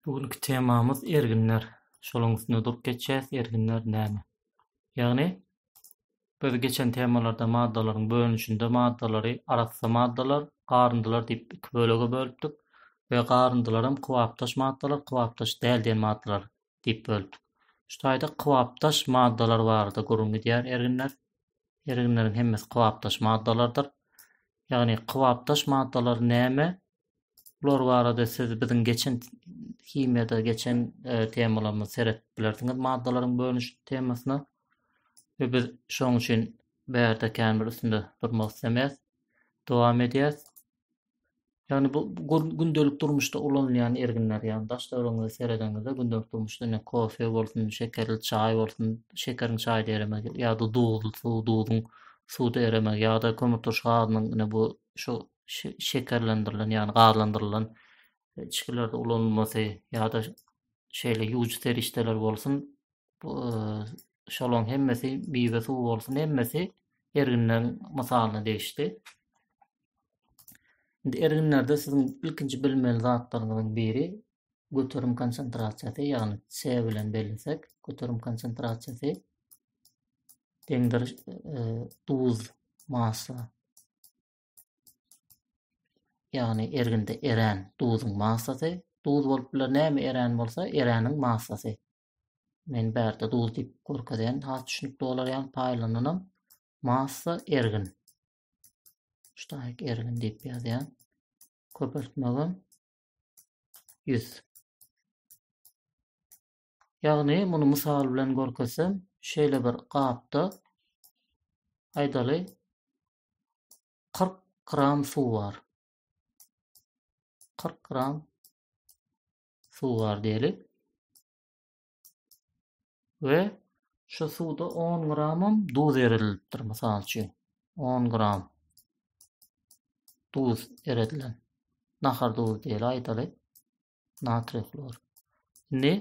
Bu günki temamyz erginler. Şonuň üstünde durup geçýäs, erginler näme? Ýagny biz geçen temalarda maddalaryň bölünişinde maddalary arassa maddalar, garyndylar diýip iki bölege bölüpdik we garyndylar hem kybapdaş maddalar, kybapdaş däl diýen maddalar diýip böldük. Şu taýda kybapdaş maddalar barada gürrüň gidýär erginler. Erginleriň hemmesi kybapdaş maddalardyr. Ýagny kybapdaş maddalar näme? Bular barada siz biziň geçen himiýada geçen e, temalarymyzy seredip bilersiňiz maddalaryň bölüniş temasyna. Ve biz şoň üçin bärde kän bir üstünde durmak islemeýäs. Dowam edýäs. Ýagny bu gündelik durmuşda ulanylýan erginler, ýagny daş döwrüňize seredeňizde gündelik durmuşda ne kofe bolsun, şekerli çaý bolsun, şekeriň çaýda eremegi ýa-da duzly suw, duzuň suwda eremegi ýa-da kömürturş gazynyň ine bu şu şekerlendirilen, ýagny gazlandyrylan e, içgilerde ulanylmasy ýa-da şeýle ýuwujy serişdeler bolsun, bu e, şolaň hemmesi bize suw bolsun hemmesi erginler mysalyna degişdi. Indi erginlerde siziň ilkinji bilmeli zatlaryňyzyň biri göterim konsentrasiýasy, ýagny C bilen bellesek, göterim konsentrasiýasy deňdir e, duz massa. Ýagny erginde erän duzuň massasy, duz bolup biler näme erän bolsa, eräniň massasy. Men bärde duz diýip görkezýän, has düşünikli bolar ýaly paýlananam massa ergin. Ştaýk ergin diýip ýazýan. Köpeltmegim 100. Ýagny muny mysal bilen görkezsem, şeýle bir gapda aýdaly 40 gram suw bar. 40 gram suwar diýeli. We şu suwda 10 gramam duz erilipdir mysal üçin. 10 gram duz eredilen. Nahar duzu diýeli aýdaly. Natriý hlor. Indi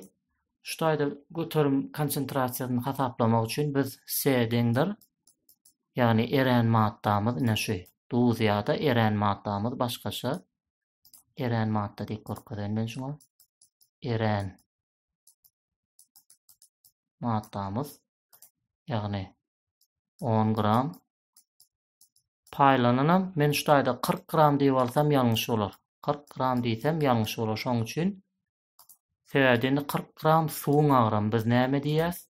şu taýda göterim konsentrasiýasyny hasaplamak üçin biz C deňdir. Ýagny eren maddamyz ine şu duz ýa-da eren maddamyz başgaça Erän madda diýip görkezen men şuňa. Erän maddamyz ýagny 10 gram paýlananam men şu taýda 40 gram diýip alsam ýalňyş bolar. 40 gram diýsem ýalňyş bolar. Şoň üçin sebäbi indi 40 gram suwuň agramy biz näme diýýäs?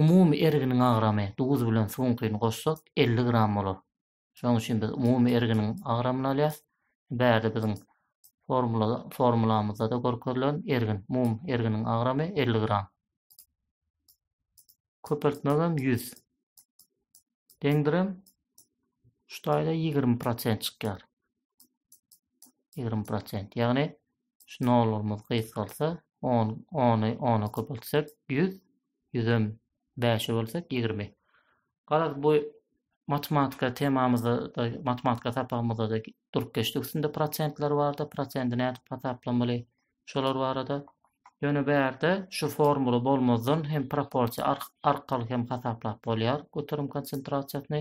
Umumy erginiň agramy duz bilen suwuňkyny goşsak 50 gram bolar. Şonuň üçin biz umumy erginiň agramyny alýarys. Bärde biziň formula formulamyzda-da görkezilen ergin, mum erginiň agramy 50 gram. Köpeltmegem 100. Deňdirem şu taýda 20% çykýar. ýigrimi prosent. Ýagny şu nollarymyz gysgalsa, on ony ona köpeltsek ýüz, ýüzem bäşe bölsek ýigrimi. Garaz bu matematika temamyzda matematika sapagymyzda da durup geçdik üstünde prosentler bardy. Prosenti nädip hasaplamaly? Şolar barada Ýöne bu ýerde şu formula bolmazdan hem proporsiýa arkaly hem hasaplap bolýar göterim konsentrasiýasyny.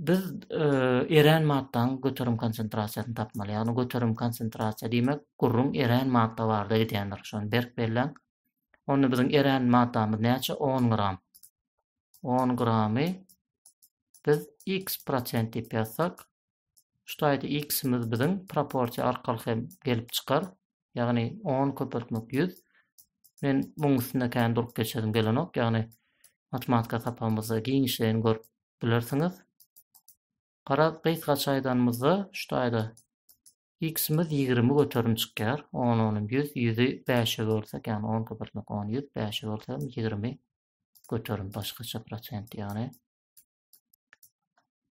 Biz erän maddanyň göterim konsentrasiýasyny tapmaly. Ýagny göterim konsentrasiýa diýmek gürrüň erän madda barada gidýändir. Şony berk belläň. Onda biziň erän maddamyz näçe? 10 gram. 10 gramy biz x prosent diýip ýazsak, şu taýda x-imiz biziň proporsiýa arkaly hem gelip çykar. Ýagny 10 köpeltmek 100. Men muň üstünde kän durup geçesim gelenok. Ýagny matematika sapagymyzda giňişleýin görüp bilersiňiz. Garaz, gysgaça aýdanymyzda, şu taýda x-imiz ýigrimi göterim çykýar. On, onym ýüz, ýüzi bäşe bölsek, ýagny onka birlik, on, ýüz, bäşe bölsek hem ýigrimi göterim, başgaça prosent ýagny.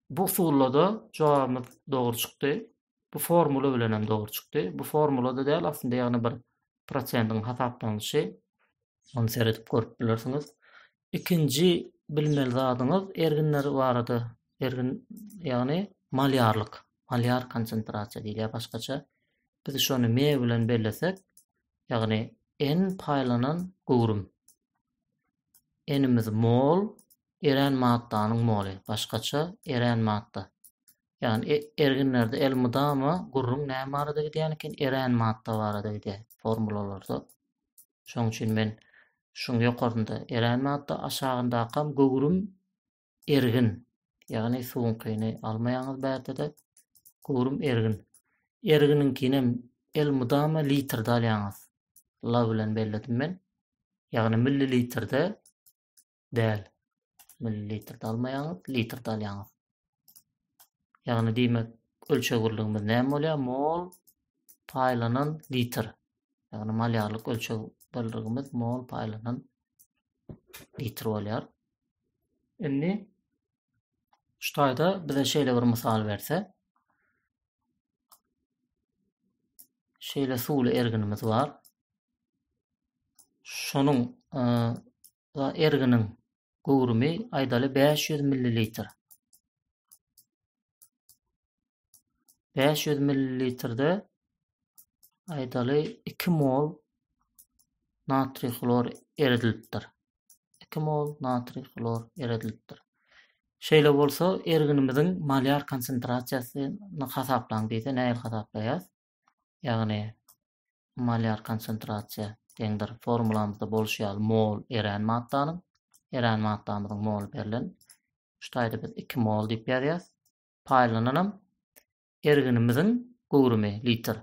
Bu usulda-da jogabymyz dogry çykdy. bu formula bilen hem dogry çykdy. Bu formulada däl aslynda ýagny bir prosendiň hasaplanyşy. Ony seredip görüp bilersiňiz. Ikinji bilmeli zadyňyz erginler barada. Ergin ýagny malýarlyk, malýar konsentrasiýa diýilýär başgaça. Biz şony me bilen bellesek, ýagny n paýlanan göwrüm. N-imiz mol, erän maddanyň moly, başgaça erän madda. Ýagny e, erginlerde elmydama gürrüň näme barada gidýän eken? Erän madda barada gidýär formulalarda. Şonuň üçin men şuň ýokarynda erän madda, aşagyndakam göwrüm ergin. Ýagny suwuňkyny almaýaňyz bärde-de göwrüm ergin. Erginiňkinem elmydama litrde alýaňyz. La bilen belledim men. Ýagny millilitrde däl. Millilitrde almaýaňyz, litrde alýaňyz. Ýagny diýmek, ölçeg birligimiz näme bolýar? Mol paýlanan litr. Ýagny malýarlyk ölçeg birligimiz mol paýlanan litr bolýar. Indi şu taýda bize şeýle bir mysal berse, şeýle suwly erginimiz bar. Şonuň e, Erginiň göwrümi aýdaly bäş ýüz millilitr. Bäş ýüz millilitrde aýdaly iki mol natriý hlor eredilipdir. Iki mol natriý hlor eredilipdir. Şeýle bolsa, erginimiziň molýar konsentrasiýasyny hasaplaň diýse, nähili hasaplaýas? ýagny molýar konsentrasiýa deňdir formulamyzda bolşy ýaly mol erän maddanyň erän maddamyzyň moly berlen şu taýda biz 2 mol diýip ýazýas paýlananam erginimiziň göwrümi litr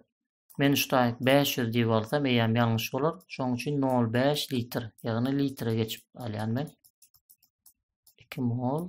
men şu taý 500 diýip alsam eýýäm ýalňyş bolar şoň üçin 0,5 litr ýagny litre geçip alýan men 2 mol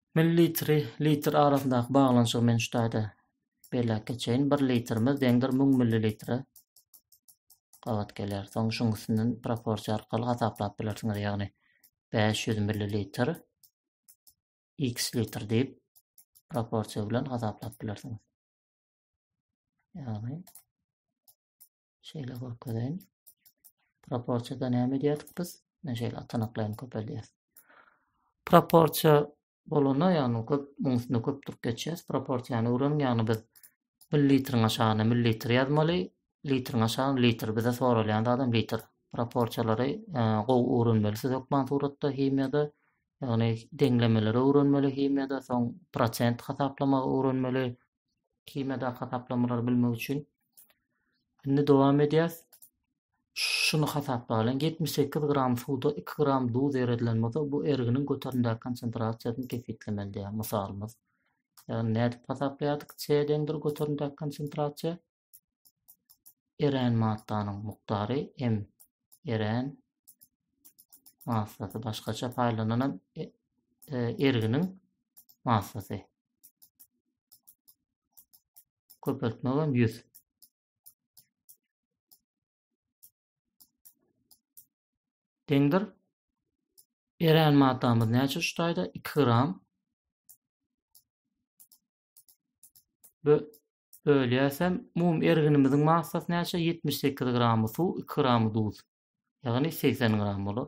Millilitri, litr arasyndaky baglanyşygy men şu taýda belläp geçeýin. Bir litrimiz deňdir müň millilitre gabat gelýär. Soň şuň üstünden proporsiýa arkaly hasaplap bilersiňiz. Ýagny 500 millilitr x litr diýip proporsiýa bilen hasaplap bilersiňiz. Ýagny Şeýle görkezeýin. Proporsiýada näme edýärdik biz? Men şeýle atanaklaýyn köpeldýär. Proporsiýa bolanda, ýagny köp muň üstünde köp durup geçýäs. Proporsiýany öwren, ýagny biz millilitriň aşagyna millilitr ýazmaly, litriň aşagyna litr. Bize soralýan zadam litr. Proporsiýalary e, gowy öwrenmeli siz hökman suratda, himiýada. Ýagny deňlemeleri öwrenmeli himiýada, soň prosent hasaplamagy öwrenmeli, Himýadaky hasaplamalary bilmek üçin indi dowam edýäs. Şuny hasaplalyň. 78 gram suwda 2 gram duz eredilen bolsa, bu erginiň göterimdäki konsentrasiýasyny kesgitlemeli diýýär. Mysalymyz. Ýagny nädip hasaplaýardyk? C deňdir göterimdäki konsentrasiýa. Erän maddanyň mukdary em erän massasy başgaça paýlananam e, e, erginiň massasy. Köpeltmek hem 100. Deňdir. Erän maddamyz näçe şu taýda? 2 gram. Bu Bölýäsem, umumy erginimiziň massasy näçe? Ýetmiş sekiz gramy suw, iki gramy duz. Ýagny segsen gram bolar.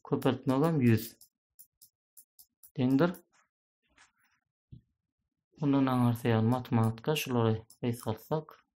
Köpeltmegem ýüz. Deňdir. Mundan aňyrsy ýagny matematika şulary gysgaltsak.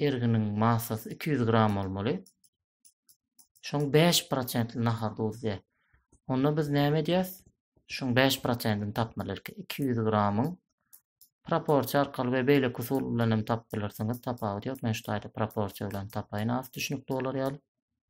Erginiň massasy 200 gram bolmaly. Şoň 5 prosentli nahar duzy. Onda biz näme edýäs? Şoň 5 prosentini tapmaly erki. 200 gramyň proporsiýa arkaly we beýle usul bilen hem tapyp bilersiňiz. Tapawut ýok. Men şu taýda proporsiýa bilen tapaýyn. Az düşnükli bolar ýaly.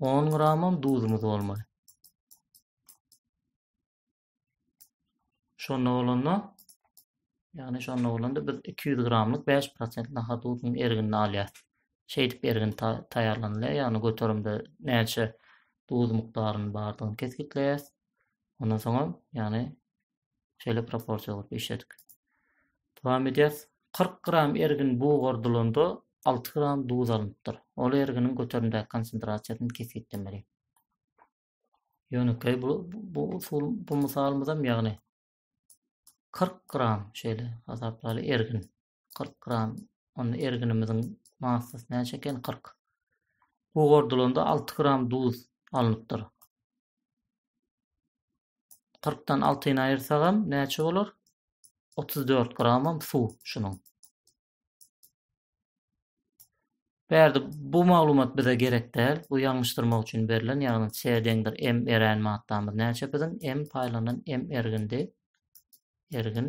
10 gramam duzumuz bolmaly. Şonda bolanda, ýagny şonda bolanda biz 200 gramlyk 5% nahar duzunyň erginini alýarys. Şeýdip ergin taýýarlanylýar, ýagny göterimde näçe duz mukdarynyň bardygyny kesgitleýäris. Ondan soňam, ýagny Şeýle proporsiýa bolup işledik. Dowam edýäs. 40 gram ergin bugardylanda 6 gram duz alnypdyr. Ol erginiň göterimdäki konsentrasiýasyny kesgitlemeli. Ýönekeý bu bu usul bu mysalymyzam ýagny 40 gram şeýle hasaplaly ergin. 40 gram. Onda erginimiziň massasy näçe eken? 40. Gugurdylanda 6 gram duz alnypdyr. 40 dan 6-ny aýyrsagam näçe bolar? 34 gramam suw şunuň. Bärde bu maglumat bize gerek däl. Bu ýalňyşdyrmak üçin berlen, ýagny C deňdir M erän maddamyz näçe biziň? M paýlanan M ergindi. Ergin.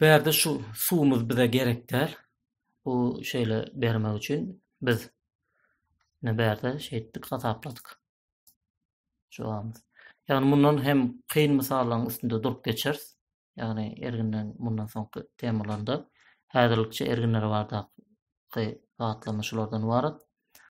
Bärde şu suwumyz bize gerek däl. Bu şeýle bermek üçin biz ne bärde şeýtdik hasapladyk. Jogabymyz. Ýagny mundan hem kyn mysallaryň üstünde durup geçeris. Ýagny erginden mundan soňky temalarynda häzirlikçe erginler bardaky zatlanma şulardan ybarat.